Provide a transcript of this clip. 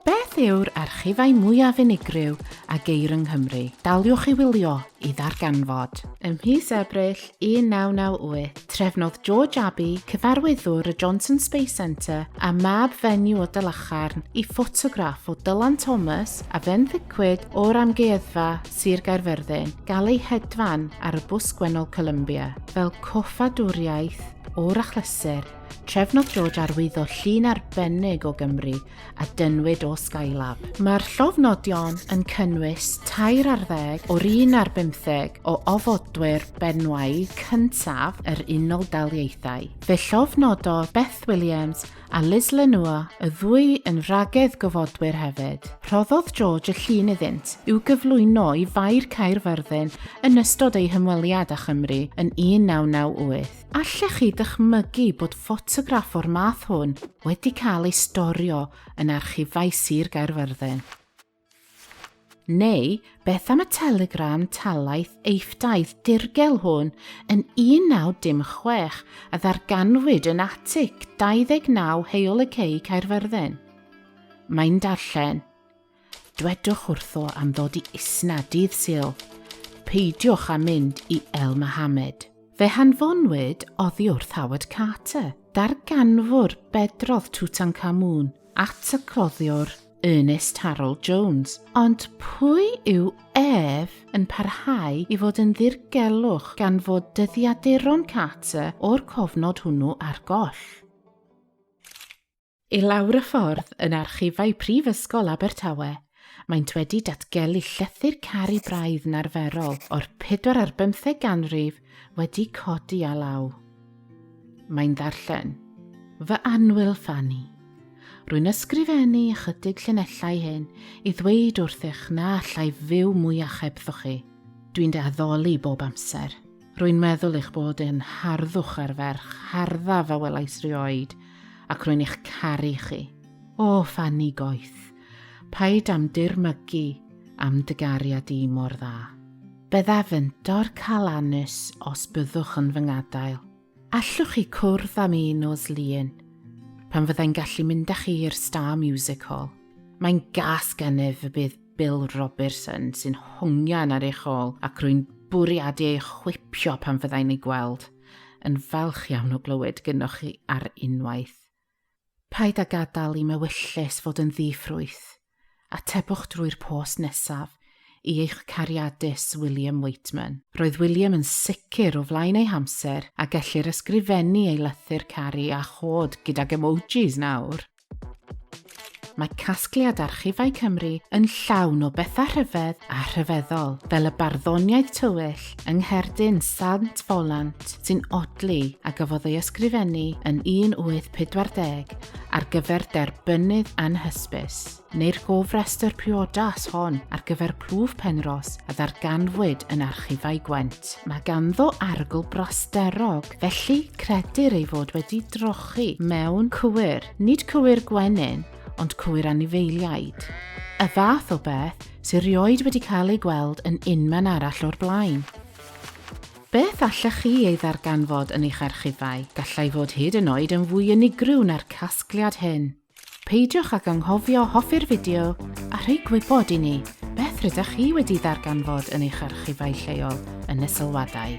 Beth yw'r archifau mwyaf unigryw a geir yng Nghymru? Daliwch i wylio i ddarganfod. Ym mis Ebrill 1998, trefnodd George Abbey, cyfarwyddwr y Johnson Space Centre a mab fenyw o Dalacharn, i ffotograff o Dylan Thomas a fenthycwyd o'r Amgueddfa Sir Gaerfyrddin gael eu hedfan ar y bws gwennol Columbia. Fel coffadwriaeth o'r achlysur, trefnodd George arwyddo llun arbennig o Gymru a dynnwyd o Skylab. Mae'r llofnodion yn cynnwys tair ar ddeg o'r un ar bymtheg o ofodwyr benywaidd cyntaf yr Unol Daliaethau. Fe llofnododd Beth Williams a Liz Lenua, y ddwy yn wragedd gofodwyr hefyd. Rhoddodd George y llun iddynt i'w gyflwyno i Faer Caerfyrddin yn ystod ei hymweliad â Chymru yn 1998. Allech chi ddychmygu bod ffotograff o'r math hwn wedi cael ei storio yn archifau Sir Gaerfyrddin? Neu beth am y telegram talaeth eiffdaidd dirgel hwn yn 1916 a ddarganfwyd yn atic 29 Heol y Cei Caerfyrddin? Mae'n darllen, Dwedwch wrtho am ddod i Isna dydd Sul. Peidiwch â mynd i El Mohammed. Fe hanfonwyd oddi wrth Howard Carter, darganfwr bedrodd Tutankhamun, at y cloddiwr Ernest Harold Jones. Ond pwy yw ef yn parhau i fod yn ddirgelwch gan fod dyddiaduron Carter o'r cofnod hwnnw ar goll? I lawr y ffordd, yn archifau Prifysgol Abertawe, maent wedi datgelu llethr caru braidd narferol o'r pedwar ar bymtheg ganrif wedi codi a law. Mae'n ddarllen. Fy annwyl Ffanni. Rwy'n ysgrifennu ychydig llinellau hyn i ddweud wrthych na allai fyw mwy achebddo chi. Dwi'n dy addoli bob amser. Rwy'n meddwl eich bod yn harddwch ar ferch harddaf a welais rioed, ac rwy'n eich caru chi. O, Fanny Goeth, paid am dirmygu am dy gariad i mor dda. Byddaf yn dorcal anus os byddwch yn fy ngadael. Allwch chi cwrdd am un nos lun, pan fyddai'n gallu mynd â chi i'r Star Music Hall. Mae'n gas gennyf y bydd Bill Roberson sy'n hongian ar eich ôl ac rwy'n bwriadu ei chwipio pan fyddai'n ei gweld. Yn falch iawn o glywed gynoch chi ar unwaith. Paid â gadael i mewyllys fod yn ddi-ffrwyth. Atebwch drwy'r post nesaf i eich cariadus William Waitman. Roedd William yn sicr o flaen ei hamser a gellir ysgrifennu ei lythyr caru a chod gydag emojis nawr! Mae casgliad Archifau Cymru yn llawn o bethau rhyfedd a rhyfeddol, fel y barddoniaeth tywyll yng ngherdyn Sant Folant sy'n odli a gafodd ei ysgrifennu yn 1840 ar gyfer derbynnydd anhysbys, neu'r gofrestr priodas hon ar gyfer plwf Penrhos a ddarganfwyd yn Archifau Gwent. Mae ganddo arogl brasterog Ffrainc, felly credir ei fod wedi drochi mewn cwyr, nid cwyr gwenyn, ond cwyr anifeiliaid. Y fath o beth sy'n rioed wedi cael ei gweld yn unman arall o'r blaen. Beth allech chi ei ddarganfod yn eich archifau? Gallai fod hyd yn oed yn fwy unigryw na'r casgliad hyn. Peidiwch ag anghofio hoffi'r fideo a rhoi gwybod i ni beth rydych chi wedi ddarganfod yn eich archifau lleol yn y sylwadau.